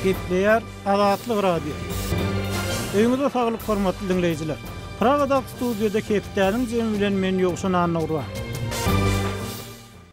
gepleýär Azatlyk Radio. Öýüňize saglyk hormatly diňleýjiler! Pragadag studiýada Hepdäniň jemi bilen men Ýowşan Annagurban.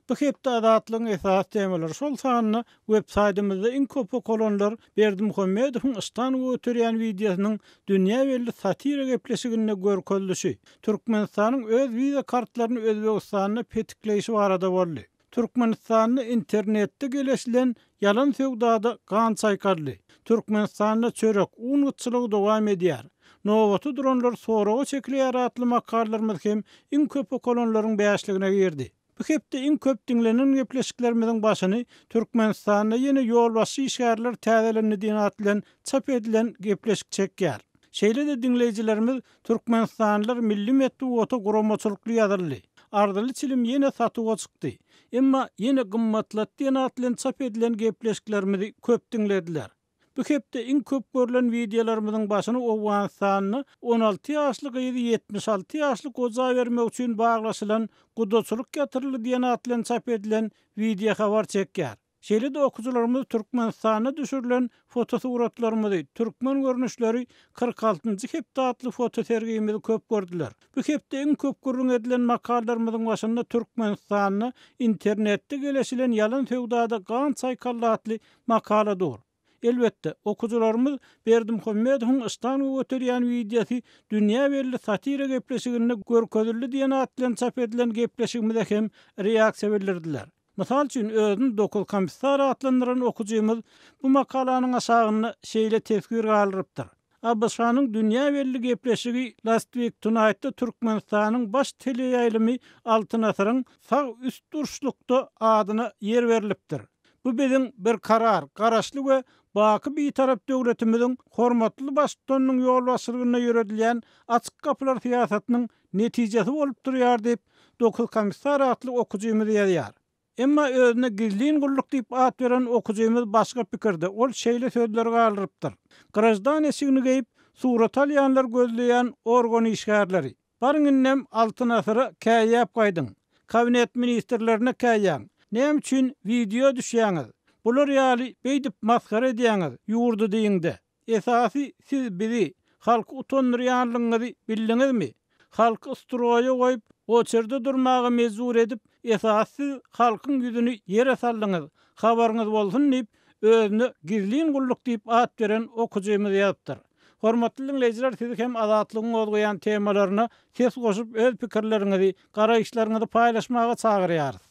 Bu hepde Azatlygyň esasy temalary şol sanda web saýtymyzda iň köp okalanlar Berdimuhamedowyň yşdan göterýän wideosynyň dünýä belli satira gepleşiginde görkezilişi, Türkmenistanyň öz wiza kartlaryny Özbegistanda petikleýşi barada boldy. Türkmenistanda internetde geleşilen ýalan söwdada gan çaýkaryldy. Türkmenistanda çörek, un gytçylygy dowam edýär. Nobata duranlar soraga çekileýär atly makallalarymyz hem iň köp okalanlaryň bäşligine girdi. Bu hepde iň köp diňlenen gepleşiklerimiziň başyny Türkmenistanda ýene ýolbaşçy işgärler täzelendi diýen at bilen çap edilen gepleşik çekýär. Şeýle-de diňleýjilerimiz Türkmenistanlylar milli metbugata guramaçylykly ýazyldy. Arzyly çilim ýene satuwa çykdy. Emma ýene gymmatlat diýen at bilen çap edilen gepleşiklerimizi köp diňlediler. Bu hepde iň köp görlen wideolarymyzyň başyny Owganystanda on alty ýaşly gyzy ýetmiş alty ýaşly goja bermek üçin baglaşylan gudaçylyk ýatyryldy diýen at bilen çap edilen wideohabar çekýär. Şeýle-de okyjylarymyz Türkmenistanda düşürilen fotosuratlarymyzy, Türkmen görnüşleri kyrk altynjy hepde atly fotosergimizi köp gördüler. Bu hepde iň köp gürrüň edilen makalalarymyzyň başynda Türkmenistanda internetde geleşilen ýalan söwdada gan çaýkaldy atly makala dur. Elbetde, okyjylarymyz Berdimuhamedowyň Iştahny göterýän wideosy dünýä belli satira gepleşiginde görkezildi diýen at bilen çap edilen gepleşigimize hem reaksiýa bildirdiler. Mysal üçin, özüni Dokuz komissar atlandyran okyjymyz bu makalanyň aşagynda şeýle teswir galdyrypdyr. ABŞ-nyň dünýä belli gepleşigi Last Week Tonight-da Türkmenistanyň baş teleýaýlymy Altyn asyryň sag üst durşlukda adyna ýer berlipdir. Bu biziň Berkarar Garaşly we baky Bitarap döwletimiziň hormatly Baştutanynyň ýolbaşçylygynda ýöredilýän Açyk gapylar syýasatynyň netijesi bolup durýar diýip, Dokuz komissar atly okyjymyz ýazýar. Emma özüne gizlin gulluk diýip at beren okyjymyz başga pikirde, ol şeýle sözleri galdyrypdyr, Grajdan eşigini geýip, surat alýanlar gözleýän organ işgärleri. Baryň indem Altyn asyra käýäp gaýdyň. Kabinet ministrlerine käýäň. Näme üçin wideo düşýäňiz? Bular ýaly beýdip masgara edýäňiz ýurdy diýiňde. Esasy siz bizi, halky utandyrýanlygyňyzy bildiňizmi? Halky stroýa goýup, oçerde durmaga mejbur edip, esasy siz halkyň ýüzüni ýere saldyňyz, habaryňyz bolsun diýip, özüne Gizlin gulluk diýip at beren okyjymyz ýazypdyr. Hormatly diňleýjiler siz hem Azatlygyň gozgaýan temalaryna ses goşup öz pikirleriňizi Garaýyşlaryňyzy paýlaşmaga çagyrýarys.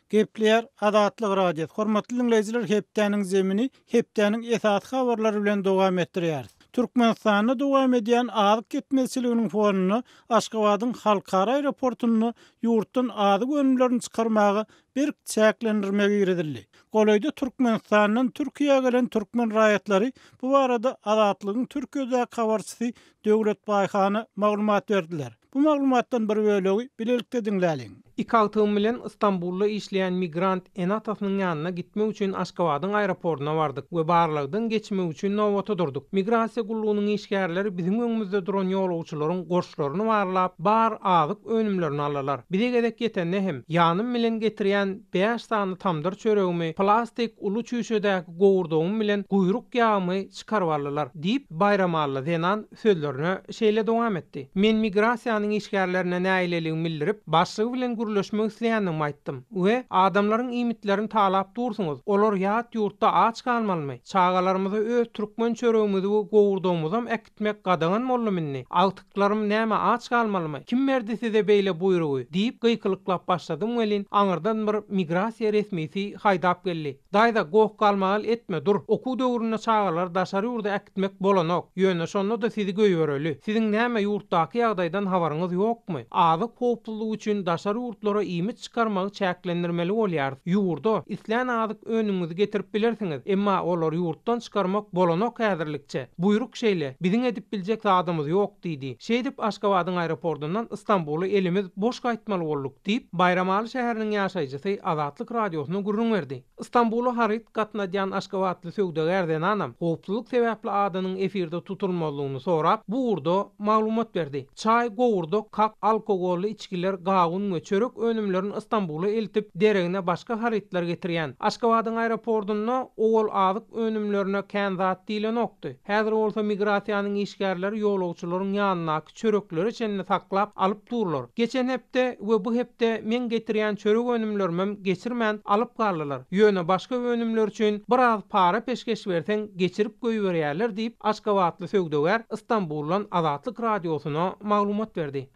Gepleýär Azatlyk Radiosy, Hormatly diňleýjiler Hepdäniň zemini hepdäniň esasy habarlary bilen dowam etdirýäris. Türkmenistanda dowam edýän azyk ýetmezçiliginiň fonunda Aşgabadyň Halkara aeroportunda ýurtdan azyk önümlerini çykarmaga berk çäklendirme girizildi. Golaýda Türkmenistandan Türkiýä gelen türkmen raýatlary bu barada Azatlygyň Türkiýedäki habarçysy Döwlet Baýhana maglumat berdiler. Bu maglumatdan bir bölegi bilelikde diňläliň. Iki agtygym bilen Stambulda işleýän migrant ene-atasynyň ýanyna gitmek üçin Aşgabadyň aeroportyna bardyk we barlagdan geçmek üçin nobata durdyk. Migrasiýa gullugynyň işgärleri biziň öňümizde duran ýolagçylaryň goşlaryny barlap, bar azyk önümlerini aldylar. Bize gezek ýetende hem, ýanym bilen getirýän bäş sany tamdyr çöregimi, plastik uly çüýşedäki gowurdagym bilen guýruk ýagymy, çykaryp aldylar, diýip, baýramalla zenan sözlerine şeýle dowam etdi, Men migrasiýanyň işgärlerine nägileligimi bildirip, başlygy bilen gürleşmek isleýändigimi aýtdym we Adamlaryň iýmitlerini talap dursuňyz, olar ýat ýurtda aç galmalymy? Çagalarymyza öz türkmen çöregimizi we gowurdagymyzam äkitmek gadagan boldumy indi? Agtyklarym näme aç galmalymy? Kim berdi size beýle buýrugy? diýip, gykylyklap başladym welin, aňyrdan bir migrasiýa resmisi haýdap geldi. Daýza, goh-galmagal etme, dur. Okuw döwründe çagalary daşary ýurda äkitmek bolanok. Ýöne şonda-da sizi goýbereli. Siziň näme ýurtdaky ýagdaýdan habaryňyz ýokmy? Azyk howpsuzlygy üçin daşary ýurtlara iýmit çykarmagy çäklendirmeli bolýarys. Ýurda, islän azyk önümiňizi getirip bilersiňiz, emma olary ýurtdan çykarmak bolanok häzirlikçe. Buýruk şeýle, biziň edip biljek zadymyz ýok, diýdi. Şeýdip, Aşgabadyň aeropordyndan Stambula elimiz boş gaýtmaly bolduk. Diýip, Baýramaly şäheriniň ýaşaýjysy Azatlyk Radiosyna gürrüň berdi. Stambula haryt gatnadýan aşgabatly söwdagär zenanam howpsuzlyk sebäpli adynyň efirde tutulmazlygyny sorap, bu ugurda maglumat berdi. Çaý, gowurdak, kak, alkogolly içgiler, gawun we çörek önümlerini Stambula eltip, deregine başga harytlar getirýän. Aşgabadyň aeropordunda owal azyk önümlerine kän zat diýlenokdy. Häzir bolsa migrasiýanyň işgärleri ýolagçylaryň ýanyndaky. çöreklere çenli saklap alyp durlar. Geçen hepde we bu hepde meň getirýän çörek önümlerimem geçirmän alyp galdylar. Ýöne başga önümler üçin bir az para peşgeş berseň geçirip goýberýärler diýip, aşgabatly söwdagär Stambuldan Azatlyk Radiosyna maglumat berdi.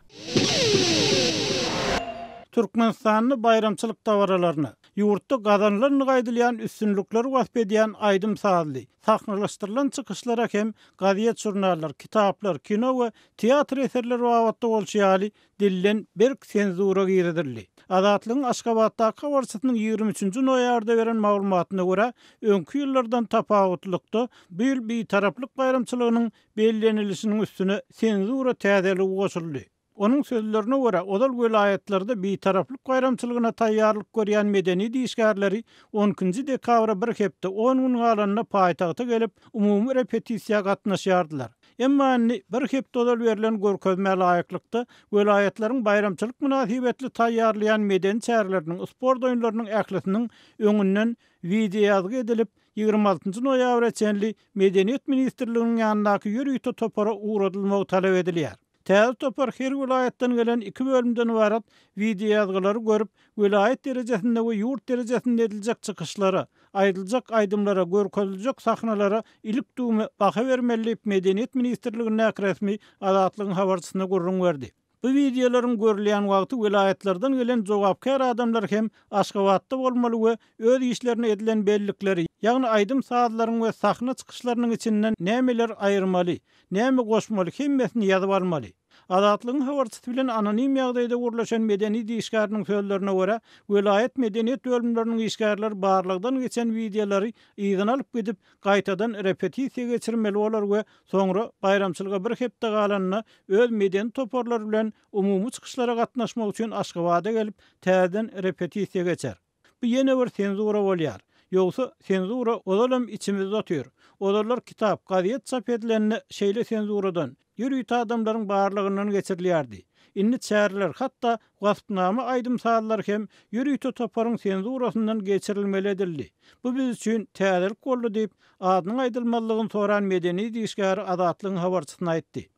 Türkmenistanda baýramçylyk dabaralaryna, ýurtda gazanylandygy aýdylýan üstünlikleri wasp edýän aýdym-sazly, sahnalaşdyrylan çykyşlara hem gazet-žurnallar, kitaplar, kino we teatr eserleri babatda bolşy ýaly, dilden berk senzura girizildi. Azatlygyň Aşgabatdaky habarçysynyň ýigrimi üçünji noýabrda beren maglumatyna görä, öňki ýyllardan tapawutlylykda, bu ýyl Bitaraplyk baýramçylygynyň bellenilişiniň üstüne senzura täzeligi goşuldy. Onuň sözlerine görä, ozal welaýatlarda Bitaraplyk baýramçylygyna taýýarlyk görýän medeniýet işgärleri on ikinji dekabra bir hepde on gün galanda paýtagta gelip, umumy repetisiýa gatnaşýardylar. Emma indi, bir hepde ozal berlen görkezmä laýyklykda, welaýatlaryň baýramçylyk mynasybetli taýýarlaýan medeni çäreleriniň, sport oýunlarynyň ählisiniň öňünden wideoýazgy edilip, ýigrimi altynjy noýabra çenli Medeniýet ministrliginiň ýanyndaky ýörite topara ugradylmagy talap edilýär. Täze topar her welaýatdan gelen iki bölümden ybarat wideoýazgylary görüp, welaýat derejesinde we ýurt derejesinde ediljek çykyşlara, aýdyljak aýdymlara, görkeziljek sahnalara ilik-düwme baha bermeli diýip, Medeniýet ministrligindäki resmi Azatlygyň habarçysyna gürrüň berdi. Bu wideolaryň görülýän wagty welaýatlardan gelen jogapkär adamlar hem Aşgabatda bolmaly we öz işlerini edilen bellikleri, ýagny aýdym-sazlaryň we sahna çykyşlarynyň içinden nämeler aýyrmaly, Näme goşmaly, hemmesini ýazyp almaly. Azatlygyň habarçysy bilen anonim ýagdaýda gürleşen medeni işgäriniň sözlerine görä, welaýat medeniýet bölümleriniň işgärleri barlagdan geçen wideolary yzyna alyp gidip, gaýtadan repetisiýa geçirmeli bolar we soňra, baýramçylyga bir hepde galanda, öz medeni toparlary bilen umumy çykyşlara gatnaşmak üçin Aşgabada gelip, täzeden repetisiýa geçer. Bu ýene bir senzura bolýar. Ýogsa, senzura ozalam içimizde otyr. Ozallar kitap, gazet çap edilende şeýle senzuradan, ýörite adamlaryň barlygyndan geçirilýärdi. Indi çäreler, hatda waspnama aýdym-sazlar hem ýörite toparyň senzurasyndan geçirilmeli edildi. Bu biz üçin täzelik boldy diýip, adynyň aýdylmazlygyny soran medeni idişgär Azatlygyň habarçysyna aýtdy.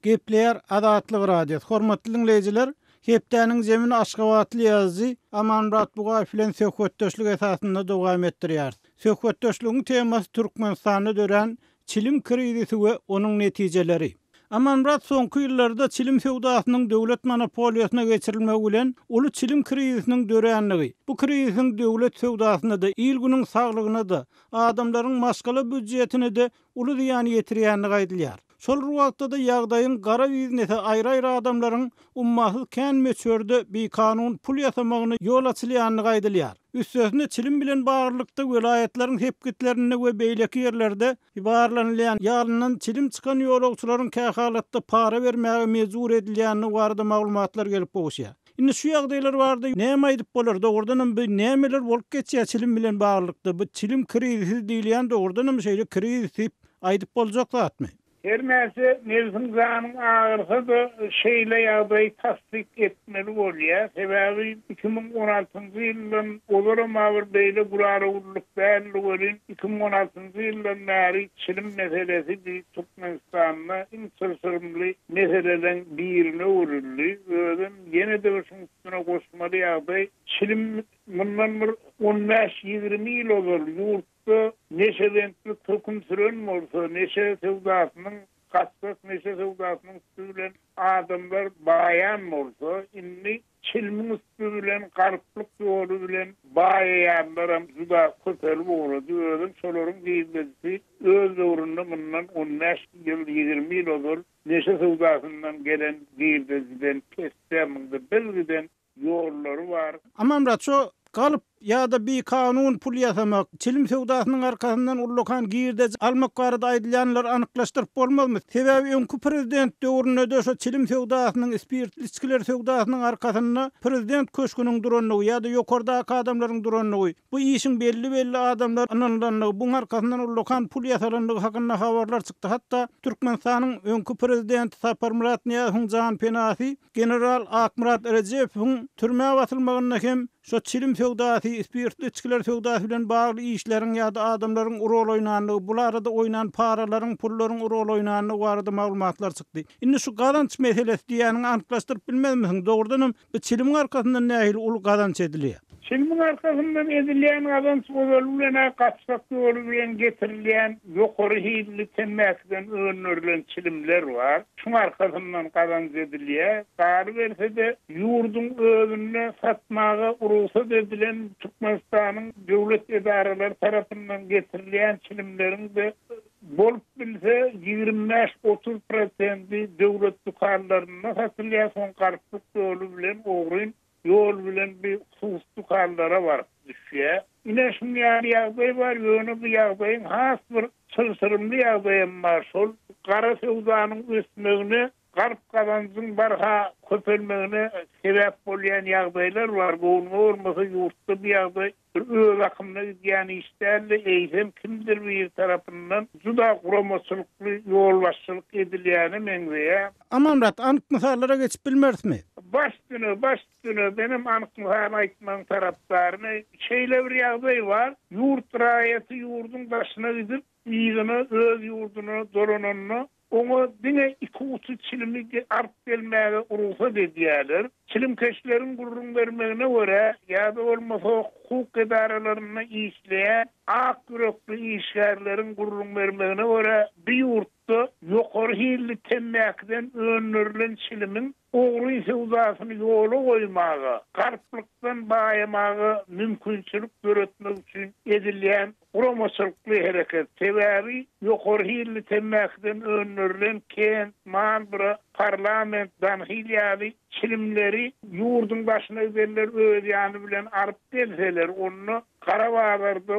Gepleýär Azatlyk Radiosy, Hormatly diňleýjiler, Hepdäniň jemini aşgabatly ýazyjy Amanmyrat Bugaýew bilen söhbetdeşlik esasynda dowam etdirýäris. Söhbetdeşligiň temasy Türkmenistanda dörän çilim krizisi we onuň netijeleri. Amanmyrat soňky ýyllarda çilim söwdasynyň döwlet monopoliýasyna geçirilmegi bilen uly çilim krizisiniň dörändigi, bu krizisiň döwlet söwdasyna-da, il-günüň saglygyna-da adamlaryň maşgala býudjetine-de uly zyýan ýetirýändigi aýdylýar. Şol bir wagtda-da ýagdaýyň gara biznese aýry-aýry adamlaryň ummasyz kän möçberde bikanun pul ýasamagyna ýol açylýandygy aýdylýar. Üstesine çilim bilen baglylykda welaýatlaryň sepgitlerinde we beýleki ýerlerde ybarlanylýan ýalyndan çilim çykan ýolagçylaryň kähalatda para bermäge mejbur edilýändigi barada maglumatlar gelip gowuşýar. Indi şu ýagdaýlar barada näme aýdyp bolar, dogrudanam bu nämeler bolup geçýär çilim bilen baglylykda, bu çilim krizisi diýilýän dogrudanam şeýle krizis diýip aýdyp boljak zatmy? Her näçe nebsiň janyň agyrsa-da şeýle ýagdaýy tassyk etmeli bolýar, sebäbi iki müň on altynjy ýyldan ozalam agyr beýle gurara gurlup däldi welin iki müň on altynjy ýyldan bäri çilim meselesi düýp Türkmenistanda iň çylşyrymly meseleleň birine öwrüldi. Özem ýene-de bir şuň üstüne goşmaly ýagdaý, çilim mundan bir on bäş, ýigrimi ýyl ozal ýurtda neşebentlik höküm süren bolsa, neşe söwdasynyň, gatgak neşe söwdasynyň üsti bilen adamlar baýan bolsa, indi Çilimiň üsti bilen garyplyk ýoly bilen baýaýanlaram juda köpelip ugrady. Özem şolaryň girdejisi öz döwründe mundan on bäş ýyl, ýigrimi ýyl ozal neşe söwdasyndan gelen girdejiden pes-de, munda bir giden ýollary bar. Aman Raço galyp ýa-da bikanun pul ýasamak, çilim söwdasynyň arkasyndan ullakan girdeji almak barada aýdylýanlary anyklaşdyryp bolmazmy? Sebäbi öňki prezident döwründe-de şo çilim söwdasynyň, spirtli içgiler söwdasynyň arkasynda prezident köşgüniň durandygy ýa-da ýokardaky adamlaryň durandygy, bu işiň belli-belli adamlara ynanylandygy, buň arkasyndan ullakan pul ýasalandygy hakynda habarlar çykdy. Hatda Türkmenistanyň öňki prezidenti Saparmyrat Nyýazowyň janpenasy, General Akmyrat Rejepowyň türmä basylmagynda hem şo çilim söwdasy, spirtli içgiler söwdasy bilen bagly işleriň ýa-da adamlaryň rol oýnandygy, bu arada oýnan paralaryň, pullaryň rol oýnandygy barada maglumatlar çykdy. Indi şu gazanç meselesi diýýäniňi anyklaşdyryp bilmezmisiň? Dogrudanam, bu çilimiň arkasyndan nähili uly gazanç edilýär? Çilimiň arkasyndan edilýän gazanç ozaly bilen-ä gaçgak ýoly bilen getirilýän ýokary hilli temmäkiden öndürilen çilimler bar. Şuň arkasyndan gazanç edilýär. Galyberse-de, ýurduň özünde satmaga rugsat edilen Türkmenistanyň döwlet edaralary tarapyndan getirilýän çilimleriň-de bolup bilse ýigrimi bäş-otuz prosendi döwlet dükanlarynda satylýar, soň garyplyk ýoly bilen ogryn Ýol bilen bir sus dükanlara baryp düşýär. Ine şuň ýaly ýagdaý bar, ýöne bu ýagdaýyň has bir çylşyrymly ýagdaýam bar, şol gara söwdanyň ösmegine, galp gazanjyň barha köpelmegine sebäp bolýan ýagdaýlar bar. Gownuma bolmasa ýurtda bu ýagdaý Bu öz akymyna gidýän iş däldi, eýsem kimdir biri tarapyndan juda guramaçylykly ýolbaşçylyk edilýäne meňzeýär. Amanmyrat, anyk mysallara geçip bilmerismi? Baş düne, baş düne, menem anyk mysal aýtmagyň tarapdaryny. Şeýle bir ýagdaý bar, ýurt raýaty ýurduň daşyna gidip, yzyna, öz ýurduna dolananda, oňa diňe iki guty çilimi alyp gelmäge rugsat edýärler. Çilimkeşleriň gürrüň bermegine görä, ýa-da bolmasa hukuk edaralarynda işleýän ak ýürekli işgärleriň gürrüň bermegine görä, bu ýurtda ýokary hilli temmäkiden öndürilen çilimiň ogry söwdasyny ýola goýmaga, garyplykdan baýamaga mümkinçilik döretmek üçin edilýän Guramaçylykly hereket, sebäbi ýokary hilli temmäkiden öndürilen kent, Marlboro, Parlament, Danhil ýaly çilimleri ýurduň daşyna gidenler öz ýany bilen alyp gelseler, onda gara bazarda,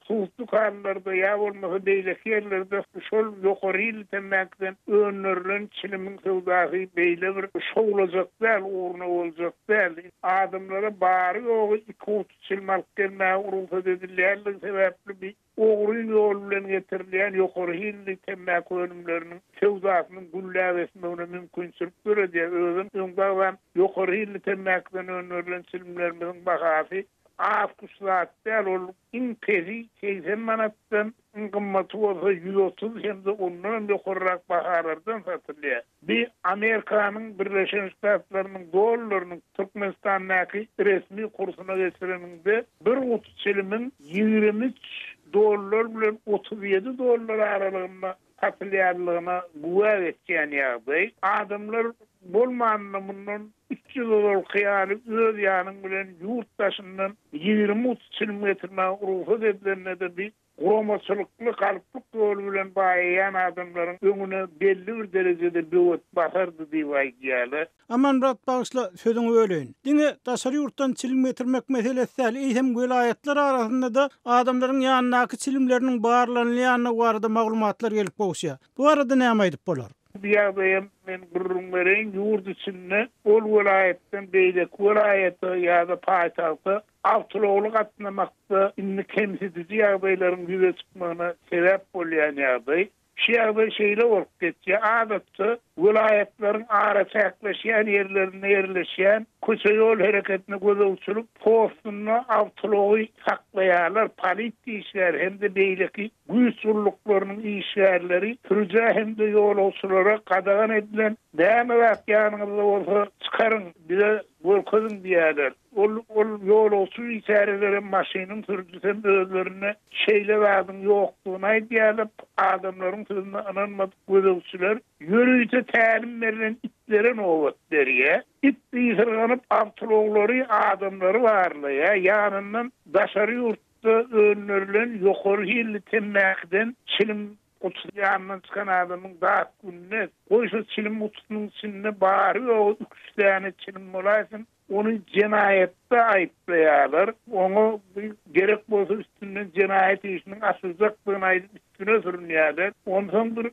suwuk dükanlarda ýa bolmasa beýleki ýerlerde şol ýokary hilli temmäkiden öndürilen çilimiň söwdasy beýle bir şowlajak däl, ugruna boljak däl. Adamlara bary-ýogy iki-üç çil alyp gelmäge rugsat edilýändigi sebäpli bi ogryn ýol bilen getirilýän ýokary hilli temmäki önümleriniň söwdasynyň gülläp ösmegine mümkinçilik döredýär, özem öňdagzam ýokary hilli temmäkiden önderilen çilimlerimiziň bahasy az-küç zat däl, ol iň pesi segsen manatdan Iň gymmaty bolsa ýüz otuz hem-de ondanam ýokarrak bahalardan satylýar. Bu Amerikanyň Birleşen Ştatlarynyň dollarynyň Türkmenistandaky resmi kursuna geçireniňde, bir guty çilimiň ýigrimi üç dollar bilen otuz ýedi dollar aralygynda satylýanlygyna güwä geçýän ýagdaý. Adamlar bolmanda mundan Üç ýyl ozalky ýaly öz ýanyň bilen ýurt daşyndan ýigrimi-otuz çilim getirmäge rugsat edilende-de biz guramaçylykly galyplyk ýoly bilen baýaýan adamlaryň öňüne belli bir derejede böwet basardy diýip aýdýarlar. Amanmyrat bagyşla sözüňi böleýin. Diňe daşary ýurtdan çilim getirmek meselesi däl, eýsem welaýatlar arasynda-da adamlaryň ýanyndaky çilimleriniň barlanylýandygy barada maglumatlar gelip gowuşýar. Bu barada näme aýdyp bolar? Bu ýagdaýam men gürrüň bereýin, ýurt içinde ol welaýatdan beýleki welaýata ýa-da paýtagta awtoulagly gatnamakda indi kemsidiji ýagdaýlaryň ýüze çykmagyna sebäp bolýan ýagdaý. Şu ýagdaý şeýle bolup geçýär, adatça, welaýatlaryň araçäkleşýän ýerlerinde ýerleşýän köçe-ýol hereketine gözegçilik postunda awtoulagy saklaýarlar polisiýa işgäri hem-de beýleki Güýç gulluklarynyň işgärleri sürüjä hem-de ýolagçylara gadagan edilen näme zat ýanyňyzda bolsa, çykaryň, bize görkeziň diýýärler. Ol ol ýolagçy biçäreler hem, maşynyň sürüjisi hem özlerine şeýle zadyň ýokdugyny aýdýarlar. Adamlaryň sözüne ynanmadyk gözegçiler ýörite tälim berlen itlere nobat berýär. It ysyrganyp, awtoulaglary, adamlary barlaýar, ýanyndan daşary ýurt Ýurtda öndürilen ýokary hilli temmäkiden çilim gutusy ýanyndan çykan adamyň dat gününe, goý şo çilim gutusynyň içinde bary-ýogy üç däne çilim bolaýsyn, ony jenaýatda aýyplaýarlar, oňa gerek bolsa üstünden jenaýat işiniň açyljakdygyny aýdyp, Güne sürünýärler. Onsoň bir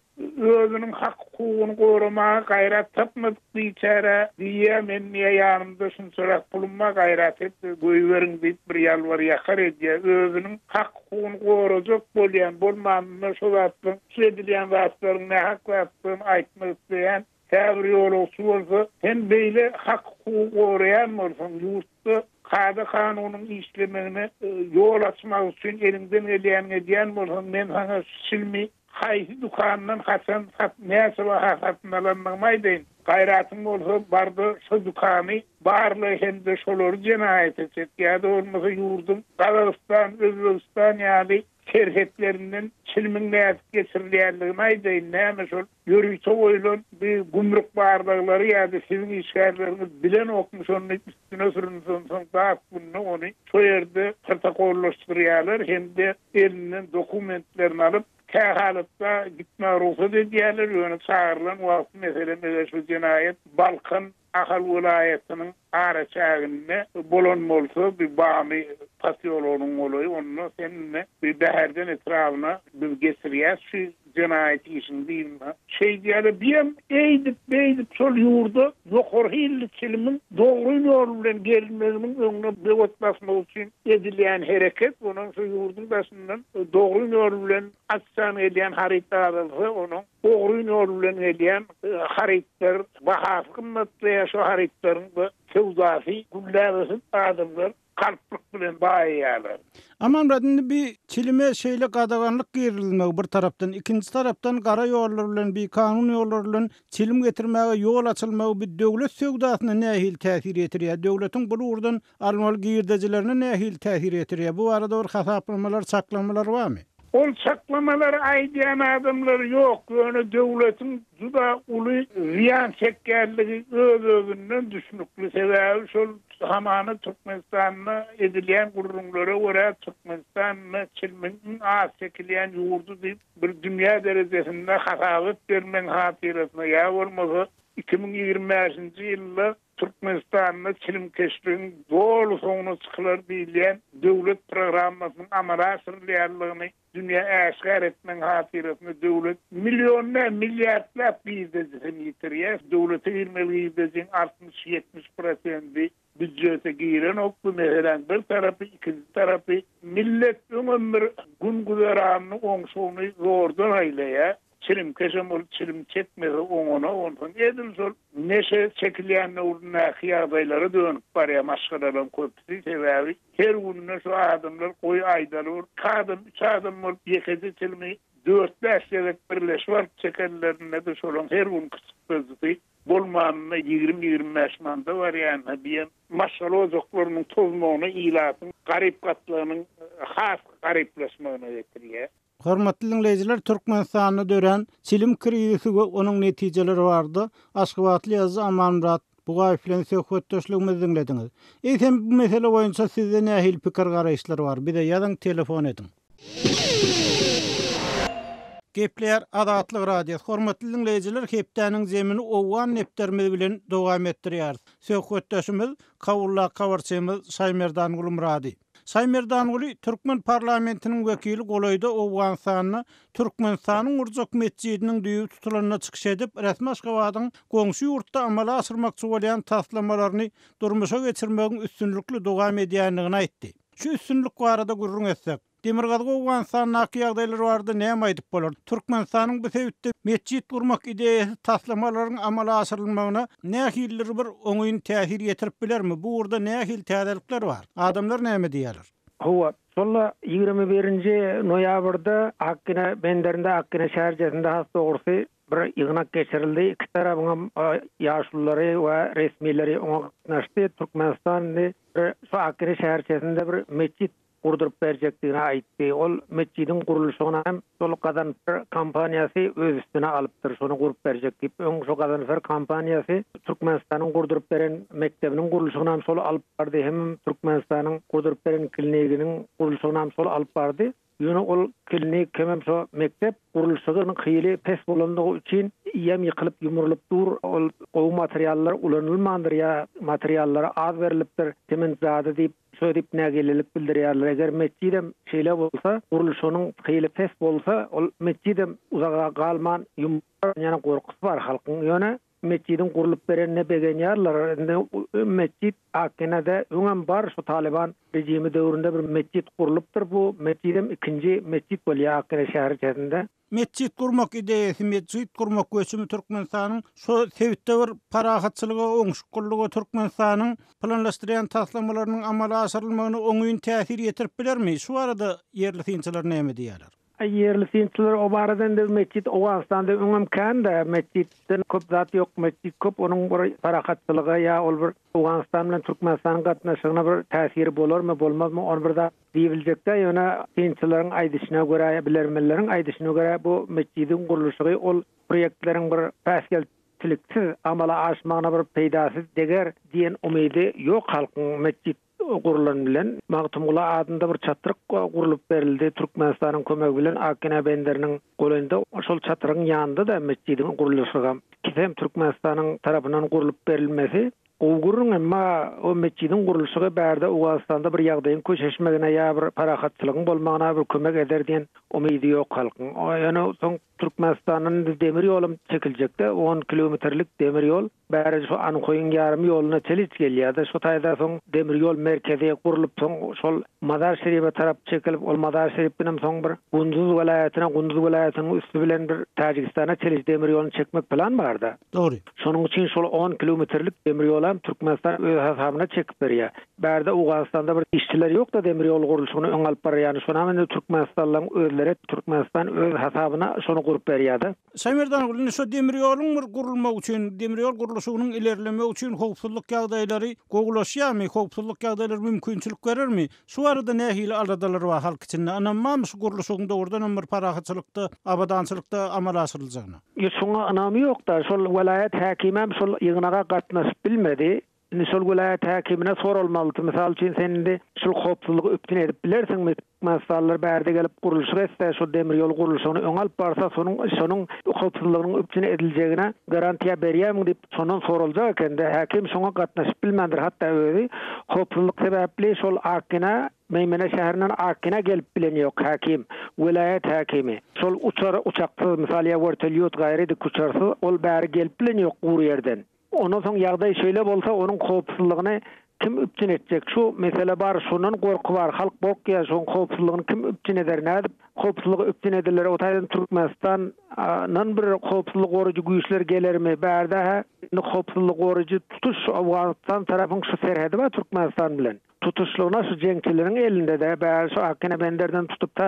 özüniň hak-hukugyny goramaga gaýrat tapmadyk biçäre diýýär, men niýe ýanymda şunçarak pulum bar, gaýrat et, goýberiň diýip bir ýalbar-ýakar edýär. Özüniň hak-hukugyny gorajak bolýan, bolmanda şo zatlaryň, şu edilýän zatlaryň nähak zatdygyny aýtmak isleýän, Käbir ýolagçy bolsa, Sen beýle hak-hukugy goraýan bolsaň, ýurtda kada-kanunyň işlemegine ýol açmak üçin eliňden gelýänini edýän bolsaň, men saňa şu çilimi haýsy dükandan haçan, näçe baha satyn alandygymy aýdaýyn. Gaýratyň bolsa, bar-da, şo dükany barla hem-de şolary jenaýata çek. Ýa-da bolmasa ýurduň Gazagystan, Özbegistan ýaly serhetlerinden çilimiň nädip geçirilýändigini aýdaýyn, näme şol ýörite goýlan bi gümrük barlaglary ýa-da siziň işgärleriňiz bilenokmy şony üstüne sürüns onsoň dat gününe ony şo ýerde protokollaşdyrýarlar hem-de elinden dokumentlerini alyp kä halatda gitmä rugsat edýärler ýöne çagyrylan wagty meselem eger şu jenaýat Balkan Ahal welaýatynyň araçäginde bolan bolsa, bir Bamy posýologynyň golaýy, onda sen indi bir Bäherden etrabyna biz geçirýäs şu jenaýat işiňi diýdiňä. Şeýdýäle biýem eýdip, beýdip şol ýurda ýokary hilli çilimiň dogry ýol bilen gelmeginiň öňüne böwet basmak üçin edilýän hereket, onam şu ýurduň daşyndan dogry ýol bilen aç-jan gelýän haryt azalsa, onuň Ogryn ýol bilen gelýän harytlar bahasy gymmatlaýar, şo harytlaryň da söwdasy gülläp ösüp, adamlar galplyk bilen baýaýarlar. Amanmyrat, indi bi çilime şeýle gadaganlyk girizilmegi bir tarapdan, ikinji tarapdan gara ýollar bilen, bikanun ýollar bilen çilim getirmäge ýol açylmagy bi döwlet söwdasyna nähili täsir ýetirýär? Döwletiň bul ugurdan Almaly girdejilerine nähili täsir ýetirýär? Bu barada bir hasaplamalar, çaklamalar barmy? Ol çaklamalary aýdýan adamlar ýok, ýöne döwletiň juda uly zyýan çekýändigi öz-özünden düşnükli. Sebäbi şol hamana Türkmenistanda edilýän gürrüňlere görä, Türkmenistan ine çilmiň iň az çekilýän ýurdy diýip, bir dünýä derejesinde hasabat bermegiň hatyrasyna ýa bolmasa iki müň ýigrimi bäşinji ýylda Türkmenistanda çilimkeşligiň doly soňuna çykylar diýilýän döwlet programmasynyň amala aşyrylýandygyny dünýä äşgär etmegiň hatyrasyna döwlet millionlap, milliardlap girdejisini ýitirýär. Döwlete girmeli girdejiň altmyş, ýetmiş prosendi býudjete girenok. Bu meseläň bir tarapy, ikinji tarapy, millet öňem bir gün-güzeranyny, oňşuny zordan aýlaýar. Çilimkeşem ol çilim çekmese oňuna onsoň edil şol neşe çekilýän döwründäki ýagdaýlara dönüp barýar maşgalalaryň köpüsi. Sebäbi her günde şu adamlar goý aýdaly bir iki adam, üç adam bolup ýekeje çilimi dört-bäş gezek birleşip alyp çekenlerinde-de şolaryň her günki çykdajysy bolmanda ýigrimi-ýigrimi bäş manda barýanyna bu hem maşgala ojaklarynyň tozmagyna ilatyň garyp gatlagynyň has garyplaşmagyna getirýär. Hormatly diňleýjiler, Türkmenistanda dörän çilim krizisi we onuň netijeleri barada aşgabatly ýazyjy Amanmyrat Bugaýew bilen söhbetdeşligimizi diňlediňiz. Eýsem, bu mesele boýunça sizde nähili pikir-garaýyşlar bar? Bize ýazyň, telefon ediň. Gepleýär Azatlyk Radiosy. Hormatly diňleýjiler, hepdäniň jemini owgan depderimiz bilen dowam etdirýäris. Söhbetdeşimiz Kabuldäki habarçymyz Şaýmerdan Gulmyrady. Şaýmerdanguly türkmen parlamentiniň wekili golaýda Owganystanda Türkmenistanyň gurjak metjidiniň düýbi tutulanda çykyş edip, resmi Aşgabadyň goňşy ýurtda amala aşyrmakçy bolýan taslamalaryny durmuşa geçirmegiň üstünlikli dowam edýändigini aýtdy. Şu üstünlik barada gürrüň etsek, Demirgazyk-Owganystandaky ýagdaýlar barada näme aýdyp bolar? Türkmenistanyň bu sebitde metjit gurmak ideýasy taslamalaryň amala aşyrylmagyna nähilidir bir oňyn täsir ýetirip bilermi? Bu ugurda nähili täzelikler bar? Adamlar näme diýýärler? Hawa, şol-a ýigrimi birinji noýabrda Akgine benderinde, Akgine şäherçesinde has dogrusy, bir ýygnak geçirildi. Iki tarabyňam ýaşululary we resmileri oňa gatnaşdy. Türkmenistan indi bir şu Akgine şäherçesinde bir metjit gurduryp berjekdigini aýtdy. Ol metjidiň gurluşygyna hem Şol Gazanfer kompaniýasy öz üstüne alypdyr, şony gurup berjek diýip. Öň şo Gazanfer kompaniýasy Türkmenistanyň gurduryp beren mekdebiniň gurluşygynam şol alyp bardy, hemem Türkmenistanyň gurduryp beren kliniginiň gurluşygynam şol alyp bardy. Ýöne ol klinik hemem şo mekdep gurluşygynyň hyly pes bolandygy üçin ýam ýykylyp, ýumrulyp dur. Ol gowy materiallar ulanylmandyr ýa materiallary az berlipdir, sement zady diýip. Şödip nägilelik bildirýärler, eger metjidem şeýle bolsa, gurluşygynyň hyly pes bolsa, ol metjidem uzaga galman ýumulýar ýaly gorkusy bar halkyň. Ýöne metjidiň gurlup berenine begenýärler. Indi metjid Akkenede öňem bar, şu Talyban rejimi döwründe bir metjid gurlupdyr. Bu metjidem ikinji metjid bolýar Akkene şäherçesinde. Metjit gurmak ideýasy Metjit gurmak göçümi Türkmenistanyň şu sebitde bir parahatçylyga, oňşukyllyga Türkmenistanyň planlaşdyrýan taslamalarynyň amala aşyrylmagyna oňyn täsir ýetirip bilermi? Şu barada ýerli synçylar näme diýýärler? Ýerli synçylar o barada indi metjit Owganystanda öňem kän-de, metjitden köp zat ýok, metjit köp, onuň bir parahatçylyga ýa ol bir Owganystan bilen Türkmenistanyň gatnaşygyna bir täsiri bolarmy, bolmazmy, ony bir zat diýip biljekdä, ýöne synçylaryň aýdyşyna görä, bilermenleriň aýdyşyna görä, bu metjidiň gurluşygy ol proýektleriň bir päsgelçiliksiz amala aşmagyna bir peýdasy deger diýen umydy ýok halkyň. Metjit gurlan bilen, Magtymguly adynda bir çatryk gurlup berildi, Türkmenistanyň kömegi bilen Akina benderiniň Golaýynda şol çatryň ýanynda-da metjidiň gurluşygam, kisem Türkmenistanyň tarapyndan gurlup berilmesi gowy gürrüň, emma o metjidiň gurluşygy bärde Owganystanda bir ýagdaýyň köşeşmegine ýa bir parahatçylygyň bolmagyna bir kömek eder diýen umydy ýok halkyň. Ýöne soň Türkmenistandan indi demir ýolam çekiljek-de, on kilometrlik demir ýol. Bäri şu Anhoýyň ýarym ýoluna Teliç gelýärdi. Şu taýda soň demir ýol merkezi gurlup, soň şol Mazar-Şerife tarap çekilip, ol Mazar-Şerif bilenem soň bir Gunduz welaýatyna, Gunduz welaýatynyň üsti bilen bir Täjigistana Teliç demir ýoluny çekmek plan bar-da. Dogry. Şonuň üçin şol on kilometrlik demir ýolam Türkmenistan öz hasabyna çekip berýär. Bärde Owganystanda bir işçiler ýok-da demir ýol gurluşygyny öňe alyp barar ýany şonam indi türkmenistanlylaryň özleri Türkmenistan öz hasabyna şony gurup berýär-de. Şaýmerdangul, indi şu demir ýoluň bir gurulmagy üçin, demir ýol gurluşygynyň ilerlemegi üçin howpsuzlyk ýagdaýlary gowulaşýarmy, howpsuzlyk ýagdaýlary mümkinçilik berermi? Şu barada nähili aladalar bar halk içinde? Ynam barmy şu gurluşygyň dogrudanam bir parahatçylykda, abadançylykda amala aşyryljagyna? Ýurt şuňa ynamy ýok-da, şol welaýat häkimem şol ýygnaga gatnaşyp bilmedi. Indi şol welaýat häkimine soralmalydy, mysal üçin, sen indi şul howpsuzlygy üpjün edip bilersiňmi? Türkmenistanlylar bärde gelip gurluşyk etse, şol demir ýol gurluşygyny öňe alyp barsa, sonuň şonuň howpsuzlygynyň üpjün ediljegine garantiýa berýärmiň diýip, şondan soraljak eken-de. Häkim şoňa gatnaşyp bilmändir, hatda özi howpsuzlyk sebäpli şol Akgina, Meýmene şäherinden Akgina gelip bilen ýok. Häkim, welaýat häkimi, şol uçar uçaksyz, mysal, ýa wertolýot, gaýry dik uçarsyz ol bäri gelip bilen ýok gury ýerden. Ondan soň ýagdaý şeýle bolsa, onuň howpsuzlygyny kim üpjün etjek? Şu mesele bar, şundan gorky bar, halk gorkýar, şoň howpsuzlygyny kim üpjün eder, nädip howpsuzlygy üpjün ediler? O taýdan Türkmenistan nan bir howpsuzlygy gorajy güýçler gelermi? Bärde-hä indi howpsuzlygy gorajy tutuş Owganystan tarapyň şu serhedi bar Türkmenistan bilen. Tutuşlygyna şu jeňçileriň elinde-de, bäri şu Akkenebenderden tutup ta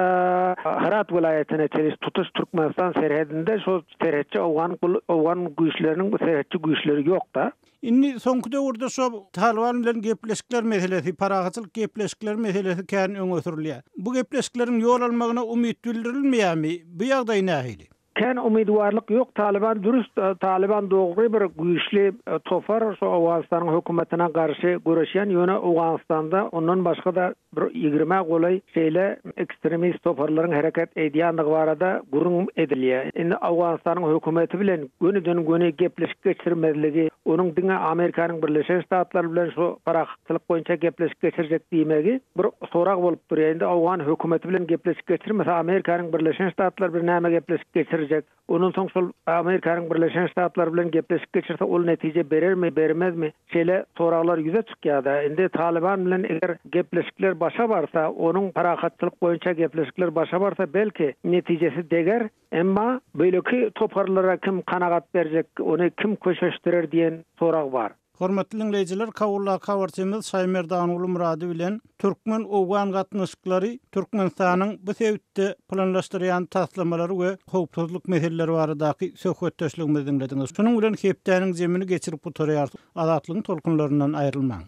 Hyrat welaýatyna çenli tutuş Türkmenistan serhedinde şu serhetçi owgan owgan güýçleriniň bu serhetçi güýçleri ýok-da. Indi soňky döwürde şu Talyban bilen gepleşikler meselesi, parahatçylyk gepleşikleri meselesi kän öňe sürülýär. Bu gepleşikleriň ýol almagyna umyt bildirilmeýärmi? Bu ýagdaý nähili? Kän umydwarlyk ýok Talyban dürüst Talyban dogry bir güýçli topar şu Owganystanyň hökümetine garşy göreşýän ýöne Owganystanda ondan başgada bir ýigrimä golaý şeýle ekstremist toparlaryň hereket eýdýänligi barada gürrüň edilýä indi Owganystanyň hökümeti bilen göniden göni gepleşik geçirmezligi onuň diňe Amerikanyň Birleşen Ştatlary bilen şu parahatçylyk boýunça gepleşik geçirjek diýmegi Bir sorag bolup durýa indi Owgan hökümeti bilen gepleşik geçirmese Amerikanyň Birleşen Ştatlary bilen näme gepleşik geçirjek ondan soň şol Amerikanyň Birleşen Ştatlary bilen gepleşik geçirse ol netije berermi bermezmi şeýle soraglar ýüze çykýada indi Talyban bilen eger gepleşikler başa barsa onuň parahatçylyk boýunça gepleşikler başa barsa belki netijesi deger Emma beýleki toparlara kim kanagat berjek, ony kim köşeşdirer diýen sorag bar. Hormatly diňleýjiler, Kawuldaky habarçymyz Şaýmerdanguly Murady bilen türkmen-owgan gatnaşyklary, Türkmenistanyň bu sebitde planlaşdyrýan taslamalary we howpsuzlyk meseleleri baradaky söhbetdeşligimizi diňlediňiz. Şunuň bilen hepdäniň jemini geçirip gutarýarys. Azatlygyň tolkunlaryndan aýrylmaň!